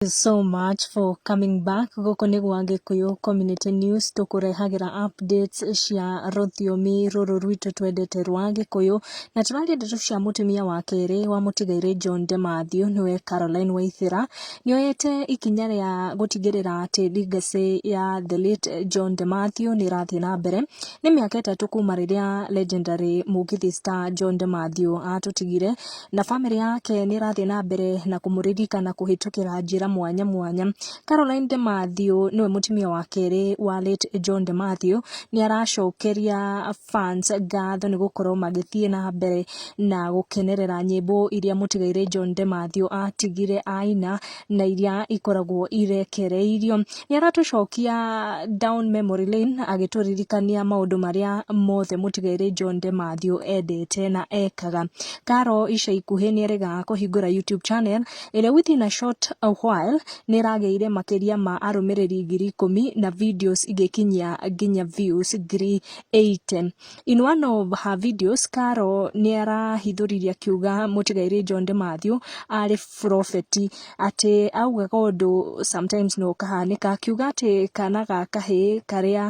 so much for coming back gũkũ nĩ gwa gĩkũyũ community news tũkũrehagĩra updates cia rũthiomi rũrũ rwitũ twendete rwa gĩkũyũ na tũrarĩa ndeto cia mũtumia wa kerĩ wa mũtigairĩ john de matthew nĩwe caroline waithĩra nĩoyete ikinya rĩa gũtigĩrĩra atĩ legacy ya the late john de matthew nĩ ĩrathiĩ na mbere nĩ mĩaka ĩtatũ kuma rĩrĩa legendary mũgithi star john de matthew atũtigire na famĩlĩ yake nĩ ĩrathiĩ na mbere na kũmũririkana kũhĩtũkĩra njĩra mwanya mwanya. Caroline De Mathew nĩwe mũtumia wa kerĩ wa late John De Mathew, nĩ aracokeria fans ngatho nĩ gũkorwo magĩthiĩ na mbere na gũkenerera nyĩmbo iria mũtigairĩ John De Mathew atigire aina na iria ikoragwo irekereirio. Nĩ aratũcokia down memory lane agĩtũririkania maũndũ marĩa mothe mũtigairĩ John De Mathew endete na ekaga. Karo ica ikuhĩ nĩ eregaga kũhingũra YouTube channel ĩrĩa within a short a while nĩ ĩragĩire makĩria ma arũmĩrĩri ngiri ikũmi na videos igĩkinyia nginya views ngiri eighty. In one of her videos, Carol nĩ arahithũririe akiuga mũtigairĩ John de Matthew arĩ burobeti. Atĩ augaga ũndũ sometimes nĩ ũkahanĩka. Akiuga atĩ kana ga kahĩĩ karĩa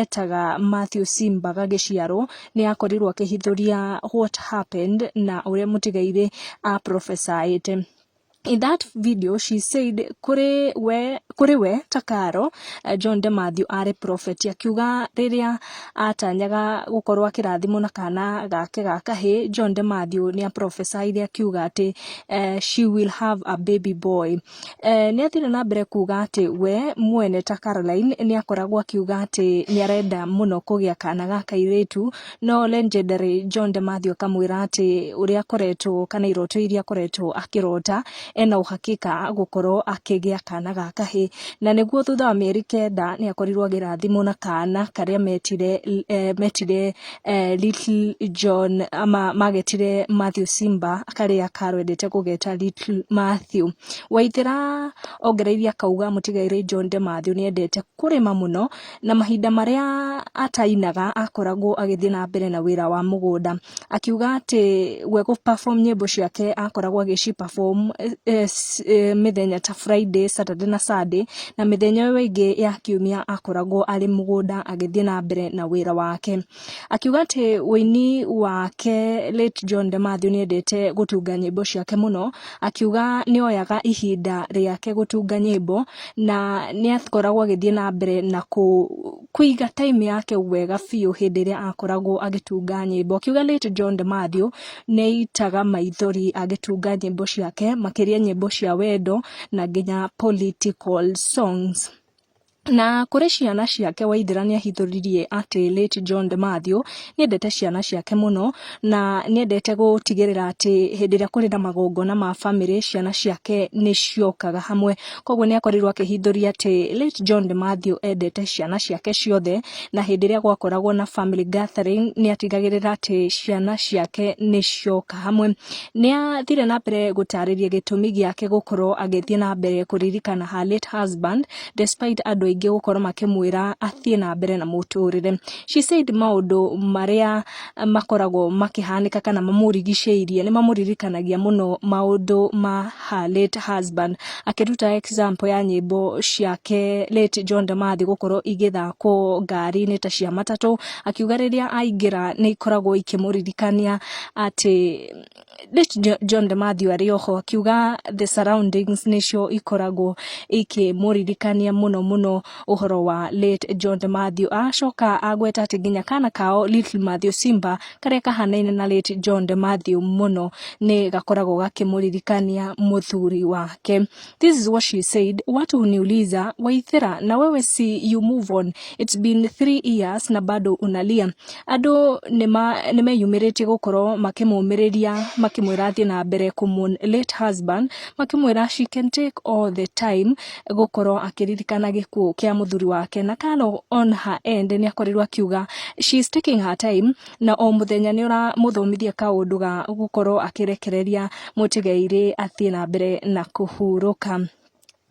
etaga Matthew Simba gagĩciarwo, nĩ akorirwo akĩhithũria what happened na ũrĩa mũtigairĩ a prophesy ĩte. In that video she said kũrĩ we, kũrĩ we ta Karo, eh, John de Matthew arĩ prophet akiuga rĩrĩa atanyaga gũkorwo akĩrathimwo na kana gake ga kahĩ John de Matthew nĩ aprophesiire akiuga atĩ eh, she will have a baby boy eh, nĩ athire na mbere kuga atĩ we mwene ta Caroline nĩ akoragwo akiuga atĩ nĩ arenda mũno kũgĩa kana ga kairĩtu No legendary John de Matthew akamwĩra atĩ ũrĩa akoretwo kana iroto iria akoretwo akĩrota ena ũhakika gũkorwo akĩgĩa kana ga kahĩ na nĩguo thutha wa mĩeri kenda nĩ akorirwo agĩrathimwo na kana karĩa metire eh, metire eh, little John ama magetire Matthew Simba karĩa karwendete kũgeta little Matthew Waithera ongereire akauga mũtigairĩ John de Matthew nĩ endete kũrĩma mũno na mahinda marĩa atainaga akoragwo agĩthiĩ na mbere na wĩra wa mũgũnda akiuga atĩ we gũ perform nyĩmbo ciake akoragwo agĩci perform eh, eh, eh, mĩthenya ta Friday, Saturday na Sunday na mĩthenya ĩyo ĩngĩ ya kiumia akoragwo arĩ mũgũnda agĩthiĩ na mbere na wĩra wake. Akiuga atĩ ũini wake late John De Mathew nĩendete gũtunga nyĩmbo ciake mũno, akiuga nĩoyaga ihinda rĩake gũtunga nyĩmbo na nĩakoragwo agĩthiĩ na mbere na kũiga time yake wega biũ hĩndĩ ĩrĩa akoragwo agĩtunga nyĩmbo. Akiuga late John De Mathew nĩaitaga maithori agĩtunga nyĩmbo ciake makĩria nyĩmbo cia wendo na nginya political songs. Na kũrĩ ciana ciake Waithĩra nĩahithũririe atĩ late John de Mathew nĩendete ciana ciake mũno na nĩendete gũtigĩrĩra atĩ hĩndĩ ĩrĩa kũrĩ na magongona ma bamĩrĩ ciana ciake nĩciokaga hamwe. Koguo nĩakorirwo akĩhithũria atĩ late John de Mathew endete ciana ciake ciothe na hĩndĩ ĩrĩa gwakoragwo na family gathering nĩatigagĩrĩra atĩ ciana ciake nĩcioka hamwe. Nĩathire na mbere gũtarĩria gĩtũmi gĩake gũkorwo agĩthiĩ na mbere kũririkana her late husband. despite andũ aingĩ gũkorwo makĩmwĩra athiĩ na mbere na mũtũrĩre she said maũndũ marĩa makoragwo makĩhanĩka kana mamũrigicĩirie nĩ mamũririkanagia mũno maũndũ ma her late husband akĩruta example ya nyĩmbo ciake late John Damathi gũkorwo igĩthakwo ngari-inĩ ta cia matatũ akiuga rĩrĩa aingĩra nĩ ikoragwo ikĩmũririkania atĩ Rich John de Matthew arĩ oho akiuga the surroundings nĩcio ikoragwo ikĩmũririkania mũno mũno ũhoro wa late John de Matthew acoka agweta atĩ nginya kana kao Little Matthew Simba karĩa kahanaine na late John de Matthew mũno nĩ gakoragwo gakĩmũririkania mũthuri wake This is what she said. Watu huniuliza Waithera, na wewe si you move on, it's been three years na bado unalia. Andũ nĩma- nĩmeyumĩrĩtie gũkorwo makĩmũmĩrĩria makĩmwĩra athiĩ na mbere kũmũ late husband makĩmwĩra she can take all the time gũkorwo akĩririkana gĩkuũ kĩa mũthuri wake na Carol on her end nĩakorirwo akiuga she is taking her time na o mũthenya nĩ ũramũthomithia kaũndũ ga gũkorwo akĩrekereria mũtigairĩ athiĩ na mbere na kũhurũka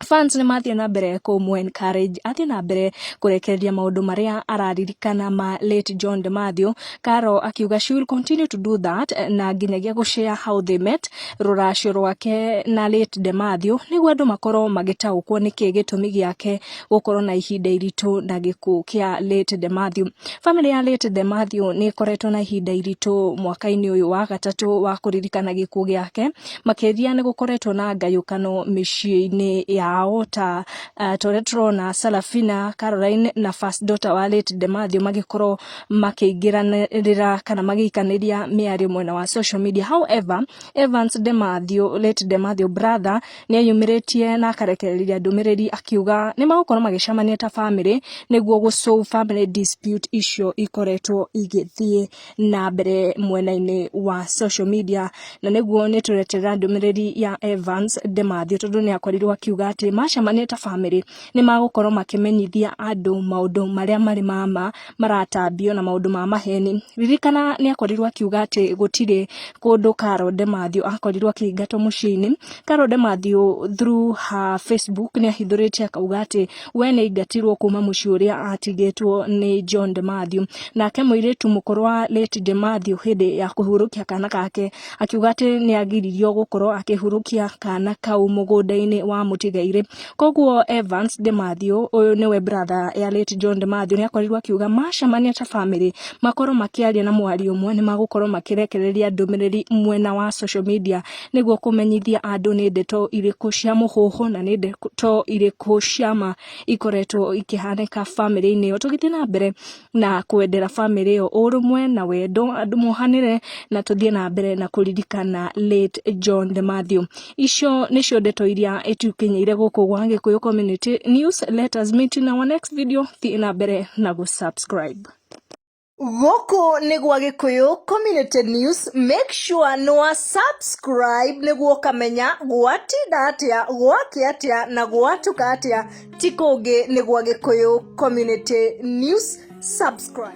fans nĩ mathiĩ na mbere kũmũ encourage athiĩ na mbere kũrekereria maũndũ marĩa araririkana ma late John de Mathew Karo akiuga she will continue to do that na nginyagia gũshare how they met rũracio rwake na late de Mathew nĩguo andũ makorwo magĩtaũkwo nĩkĩ gĩtũmi gĩake gũkorwo na ihinda iritũ na gĩkuũ kĩa late Demathew. Famĩlĩ ya late Demathew nĩ ĩkoretwo na ihinda iritũ mwaka-inĩ ũyũ wa gatatũ wa kũririkana gĩkuũ gĩake makĩria nĩ gũkoretwo na ngayũkano mĩciĩ-inĩ yao ta uh, torĩa tũrona Salafina Caroline na first daughter wa late Demathew magĩkorwo makĩingĩranĩra kana magĩikanĩria mĩario mwena wa social media however Evans Demathew late Demathew brother nĩ eyumĩrĩtie na akarekereria ndũmĩrĩri akiuga nĩ magũkorwo magĩcemania ta bamĩrĩ nĩguo gũ solve family dispute icio ikoretwo igĩthiĩ na mbere mwena-inĩ wa social media na nĩguo nĩ tũreterera ndũmĩrĩri ya Evans Demathew tondũ nĩ akorirwo akiuga atĩ macemania ta bamĩrĩ nĩ magũkorwo makĩmenyithia andũ maũndũ marĩa marĩ ma ma maratambio na maũndũ ma maheni. Ririkana nĩ akorirwo akiuga atĩ gũtirĩ kũndũ Carol Demathew akorirwo akĩingatwo mũciĩ-inĩ. Carol Demathew through her Facebook nĩ ahithũrĩtie akauga atĩ we nĩ aingatirwo kuma mũciĩ ũrĩa atigĩtwo nĩ John Demathew. Nake mũirĩtu mũkũrũ wa late Demathew hĩndĩ ya kũhurũkia kana gake akiuga atĩ nĩ agiririo gũkorwo akĩhurũkia kana kau mũgũnda-inĩ wa mũtigairĩ. koguo Evans de Matthew ũyũ nĩwe brother ya late John de Matthew nĩ akorirwo akiuga macemania ta family makorwo makĩaria na mwario ũmwe nĩ magũkorwo makĩrekereria ndũmĩrĩri mwena wa social media nĩguo kũmenyithia andũ nĩ ndeto irĩkũ cia mũhuhu na nĩ ndeto irĩkũ cia ma ikoretwo ikĩhanĩka family-inĩ ĩyo tũgĩthiĩ na mbere na kwendera bamĩrĩ ĩyo ũrũmwe na wendo andũ mohanĩre na tũthiĩ na mbere na kũririkana late John the Matthew. Icio nĩcio ndeto iria itukinyĩire gũkũ gwa Gĩkũyũ Community News. Let us meet in our next video. Thiĩ na mbere na gũsubscribe. Gũkũ nĩ gwa Gĩkũyũ Community News, make sure nĩ wa subscribe nĩguo ũkamenya gwatinda atĩa, gwakĩ atĩa na gwatuka atĩa. ti kũngĩ nĩ gwa gĩkũyũ community news subscribe